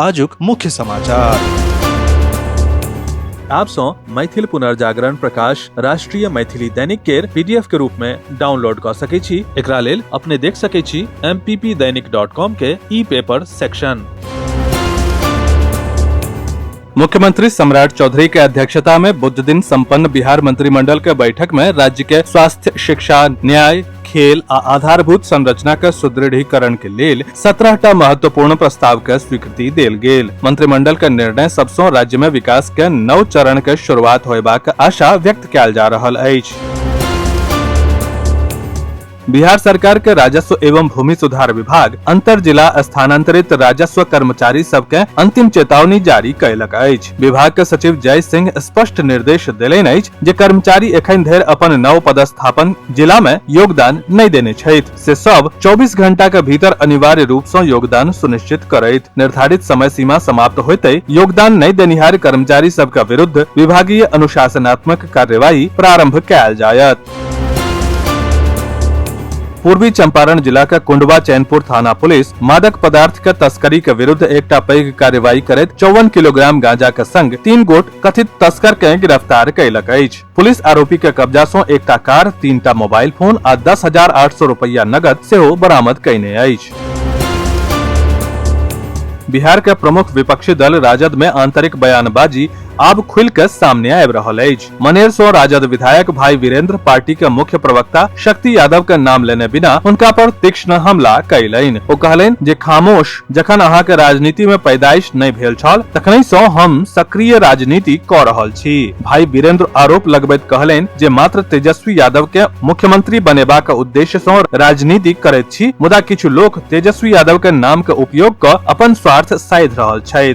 आजुक मुख्य समाचार आप सो मैथिल पुनर्जागरण प्रकाश राष्ट्रीय मैथिली दैनिक केर पीडीएफ के रूप में डाउनलोड क सके छी एकरा लेल अपने देख सके छी mppdainik.com के ई पेपर सेक्शन मुख्यमंत्री सम्राट चौधरी के अध्यक्षता में बुध दिन संपन्न बिहार मंत्रिमंडल के बैठक में राज्य के स्वास्थ्य शिक्षा न्याय खेल आ आधारभूत संरचना के सुदृढ़ीकरण के लेल सत्रह टा महत्वपूर्ण प्रस्ताव के स्वीकृति देल गेल मंत्रिमंडल के निर्णय सबसँ राज्य में विकास के नव चरण के शुरुआत होयबाक आशा व्यक्त कयल जा रहल अछि बिहार सरकार के राजस्व एवं भूमि सुधार विभाग अंतर जिला स्थानांतरित राजस्व कर्मचारी सबके अंतिम चेतावनी जारी कयलक अछि विभाग के सचिव जय सिंह स्पष्ट निर्देश देलनि अछि जे कर्मचारी एखन धरि अपन नव पदस्थापन जिला में योगदान नहि देने छथि से सब 24 घंटा के भीतर अनिवार्य रूप से योगदान सुनिश्चित करैत निर्धारित समय सीमा समाप्त होते योगदान नहि देनिहार कर्मचारी सबके विरुद्ध विभागीय अनुशासनात्मक कार्यवाही प्रारंभ कयल जायत पूर्वी चंपारण जिला के कुंडवा चैनपुर थाना पुलिस मादक पदार्थ के तस्करी के विरुद्ध एकटा पैघ कार्रवाई करैत चौवन किलोग्राम गांजा के संग तीन गोट कथित तस्कर के गिरफ्तार कयलक अछि पुलिस आरोपी के कब्जा सं एकटा कार तीन टा मोबाइल फोन आ दस हजार आठ सौ रुपया नगद सेहो बरामद कयने अछि बिहार के प्रमुख विपक्षी दल राजद में आंतरिक बयानबाजी आब खुल के सामने आबि रहल अछि मनेर सो राजद विधायक भाई वीरेंद्र पार्टी के मुख्य प्रवक्ता शक्ति यादव के नाम लेने बिना उनका पर तीक्ष्ण हमला कैलन ओ कहलन जे खामोश जखन अहाँ के राजनीति में पैदाइश नहीं भेल छल तखन सो हम सक्रिय राजनीति क रहल छी भाई वीरेंद्र आरोप लगबैत कहलन जे मात्र तेजस्वी यादव के मुख्यमंत्री बनेबा के उद्देश्य सो राजनीति करैत छी मुदा किछु लोक तेजस्वी यादव के नाम के उपयोग क अपन स्वार्थ साध रहल छथि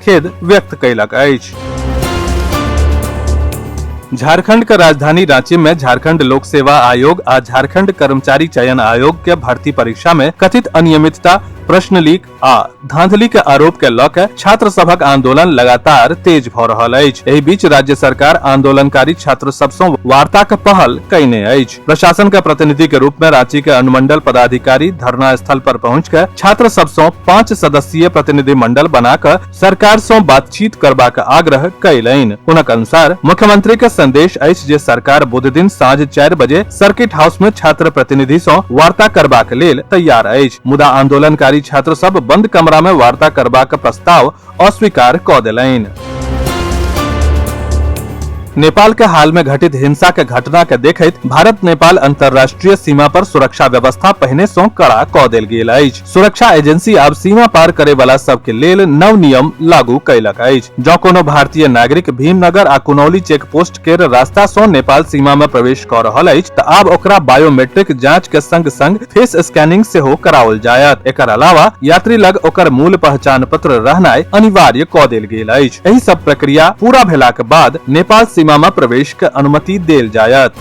खेद व्यक्त कयलक अछि झारखंड के राजधानी रांची में झारखंड लोक सेवा आयोग आ झारखंड कर्मचारी चयन आयोग के भर्ती परीक्षा में कथित अनियमितता प्रश्न लीक आ धांधली के आरोप के लऽ के छात्र सभक आंदोलन लगातार तेज भऽ रहल अछि एहि बीच राज्य सरकार आंदोलनकारी छात्र सब सँ वार्ता के पहल कयने अछि प्रशासन के प्रतिनिधि के रूप में रांची के अनुमंडल पदाधिकारी धरना स्थल पर पहुंच के छात्र सब सौ पाँच सदस्यीय प्रतिनिधि मंडल बना के सरकार सौ बातचीत करबा के आग्रह कयलनि उनक अनुसार मुख्यमंत्री के संदेश अछि जे सरकार बुध दिन साँझ चारि बजे सर्किट हाउस में छात्र प्रतिनिधि सौ वार्ता करबाक लेल तैयार अछि मुदा आंदोलनकारी छात्र सब बंद कमरा में वार्ता करबाक प्रस्ताव अस्वीकार क देलनि नेपाल के हाल में घटित हिंसा के घटना के देखैत भारत नेपाल अंतर्राष्ट्रीय सीमा पर सुरक्षा व्यवस्था पहिने सं कड़ा क देल गेल अछि सुरक्षा एजेंसी आब सीमा पार करे वाला सब के लेल नव नियम लागू कयलक अछि जँ कोनो भारतीय नागरिक भीमनगर आ कुनौली चेक पोस्ट महाराष्ट्र के रास्ता से नेपाल सीमा में प्रवेश कर रहल अछि त आब ओकरा बायोमेट्रिक जांच के संग संग फेस स्कैनिंग से हो कराओल जायत एकर अलावा यात्री लग ओकर मूल पहचान पत्र रहनाय अनिवार्य क देल गेल अछि एहि सब प्रक्रिया पूरा भेला के बाद नेपाल सीमा में प्रवेश के अनुमति देल जायत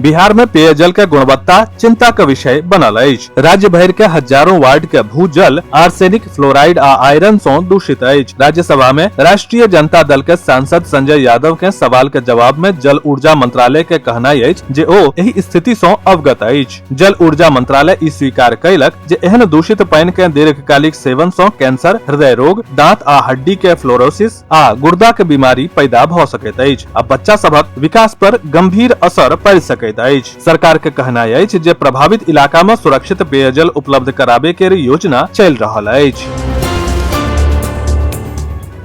बिहार में पेयजल के गुणवत्ता चिंता के विषय बनल अछि राज्य भरि के हजारों वार्ड के भूजल आर्सेनिक फ्लोराइड आ आयरन सॅ दूषित अछि राज्यसभा में राष्ट्रीय जनता दल के सांसद संजय यादव के सवाल के जवाब में जल ऊर्जा मंत्रालय के कहनाई अछि जे ओ एहि स्थिति सॅ अवगत अछि जल ऊर्जा मंत्रालय ई स्वीकार कयलक जे एहन दूषित पानि के दीर्घकालिक सेवन सॅ कैंसर हृदय रोग दांत आ हड्डी के फ्लोरोसिस आ गुर्दा के बीमारी पैदा भ सकैत अछि आ बच्चा सभक विकास पर गंभीर असर पड़ सकैत अछि सरकार के कहनाय अछि जे प्रभावित इलाका में सुरक्षित पेयजल उपलब्ध कराबे के योजना चल रहल अछि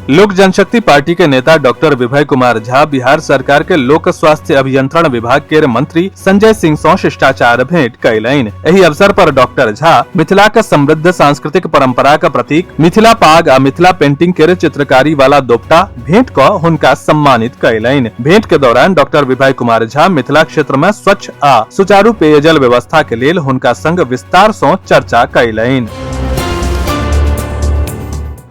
लोक जनशक्ति पार्टी के नेता डॉक्टर विभय कुमार झा बिहार सरकार के लोक स्वास्थ्य अभियंत्रण विभाग के मंत्री संजय सिंह सं शिष्टाचार भेंट कयलनि एहि अवसर पर डॉक्टर झा मिथिला के समृद्ध सांस्कृतिक परंपरा के प्रतीक मिथिला पाग आ मिथिला पेंटिंग के चित्रकारी वाला दोपटा भेंट क हुनका सम्मानित कयलनि भेंट के दौरान डॉक्टर विभय कुमार झा मिथिला क्षेत्र में स्वच्छ आ सुचारू पेयजल व्यवस्था के लेल हुनका संग विस्तार सँ चर्चा कयलनि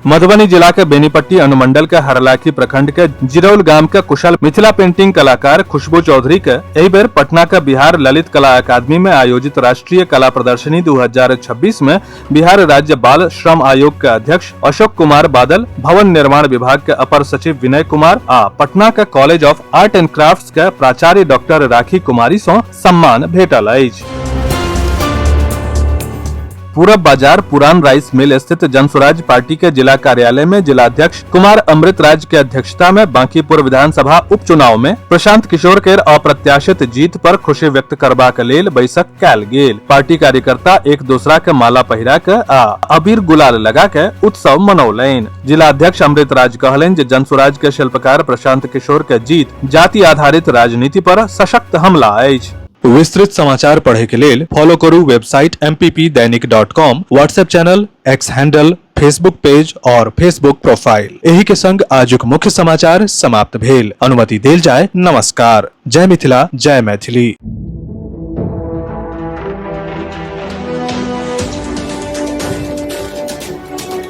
मधुबनी जिला के बेनीपट्टी अनुमंडल के हरलाखी प्रखंड के जिरौल गांव के कुशल मिथिला पेंटिंग कलाकार खुशबू चौधरी के एहि बेर पटना के बिहार ललित कला अकादमी में आयोजित राष्ट्रीय कला प्रदर्शनी 2026 में बिहार राज्य बाल श्रम आयोग के अध्यक्ष अशोक कुमार बादल भवन निर्माण विभाग के अपर सचिव विनय कुमार आ पटना के college of art and craft के प्राचार्य डॉक्टर राखी कुमारी सौ सम्मान भेटल अछि पूरब बाजार पुरान राइस मिल स्थित जनसुराज पार्टी के जिला कार्यालय में जिलाध्यक्ष कुमार अमृत राज के अध्यक्षता में बांकीपुर विधानसभा उपचुनाव में प्रशांत किशोर के अप्रत्याशित जीत पर खुशी व्यक्त करबाक लेल बैसक कैल गेल पार्टी कार्यकर्ता एक दूसरा के माला पहिरा के आ अबीर गुलाल लगा के उत्सव मनौलनि जिला अध्यक्ष अमृत राज कहलनि जे जनसुराज के शिल्पकार प्रशांत किशोर के जीत जाति आधारित राजनीति पर सशक्त हमला अछि विस्तृत समाचार पढ़े के लेल फॉलो करू website M P P Dainik dot com WhatsApp channel X handle Facebook page और फेसबुक प्रोफाइल एही के संग आजुक मुख्य समाचार समाप्त भेल अनुमति देल जाय नमस्कार जय मिथिला जय मैथिली